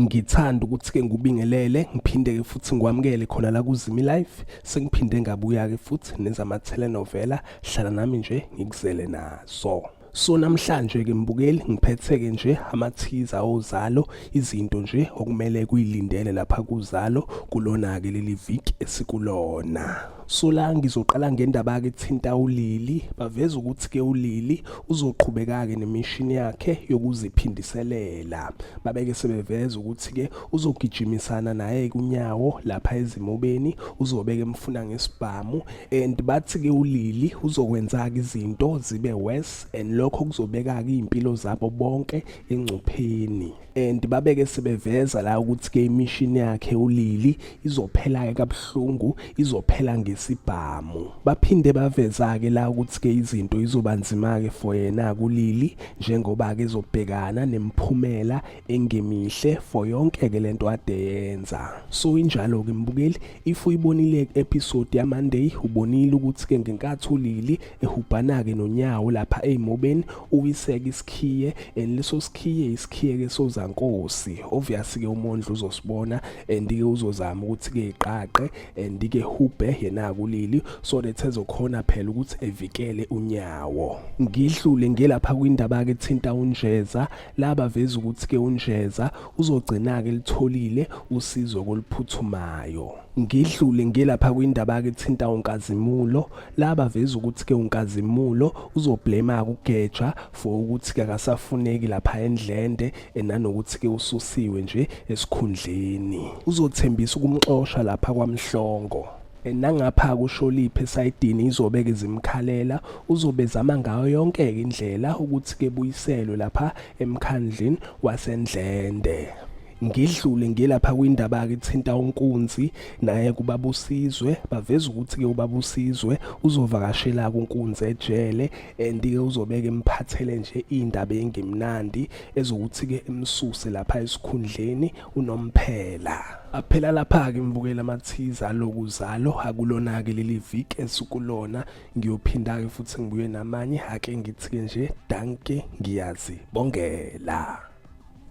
ngithanda ukuthi-ke ngubingelele ngiphinde-ke futhi ngikwamukele khona la kuzimi life sengiphinde ngabuya-ke futhi nezama-telenovela hlala nami nje ngikuzele nazo so namhlanje ke mbukeli ngiphetheke nje amathiza ozalo izinto nje okumele kuyilindele lapha kuzalo kulona ke leli viki esikulona Sola ngizoqala ngendaba ke thinta ulili baveza ukuthi ke ulili uzoqhubeka ke nemishini yakhe yokuziphindiselela babeke sebeveza ukuthi ke uzogijimisana naye kunyawo lapha ezimobeni uzobeke emfuna ngesibhamu and bathi ke ulili uzokwenza ke izinto zibe worse and lokho kuzobeka ke impilo zabo bonke engcupheni and babeke sebeveza la ukuthi ke imishini yakhe ulili izophela ke kabuhlungu izophela ngesibhamu baphinde baveza ke la ukuthi ke izinto izobanzima ke for yena kulili njengoba ke zobhekana nemphumela engemihle for yonke ke lento ade yenza so injalo ke mbukeli if uyibonile episode ya Monday ubonile ukuthi ke ngenkathi ulili ehubhanake nonyawo lapha eymobeni uwiseke isikhiye and leso sikhiye isikhiye ke sozankosi obvious ke umondlo uzosibona and ke uzozama ukuthi ke iqaqe and ke hubhe yena kulili so that ezokhona phela ukuthi evikele unyawo ngidlule ngelapha kwindaba ke thinta unjeza laba veza ukuthi ke unjeza uzogcina ke litholile usizo koluphuthumayo ngidlule ngilapha kwindaba ke thinta uNkazimulo laba veza ukuthi ke uNkazimulo uzoblema kugeja for ukuthi ke akasafuneki lapha endlende enanokuthi ke ususiwe nje esikhundleni uzothembisa ukumxosha lapha kwamhlongo nangapha kusholiphi esayidini izobeke zimkhalela uzobe zama ngayo yonke indlela ukuthi ke buyiselwe lapha emkhandlini wasendlende ngidlule ngilapha kwindaba-ke kuthinta unkunzi naye kubabusizwe baveza ukuthi-ke ubabusizwe uzovakashela-ke unkunzi ejele and-ke uzobeke emphathele nje iy'ndaba engemnandi ezokuthi-ke emsuse lapha esikhundleni unomphela aphela lapha-ke ngibukela amathiza aloku zalo akulona-ke leli viki esukulona ngiyophinda-ke futhi ngibuye namanye ake ngithi-ke nje danke ngiyazi bongela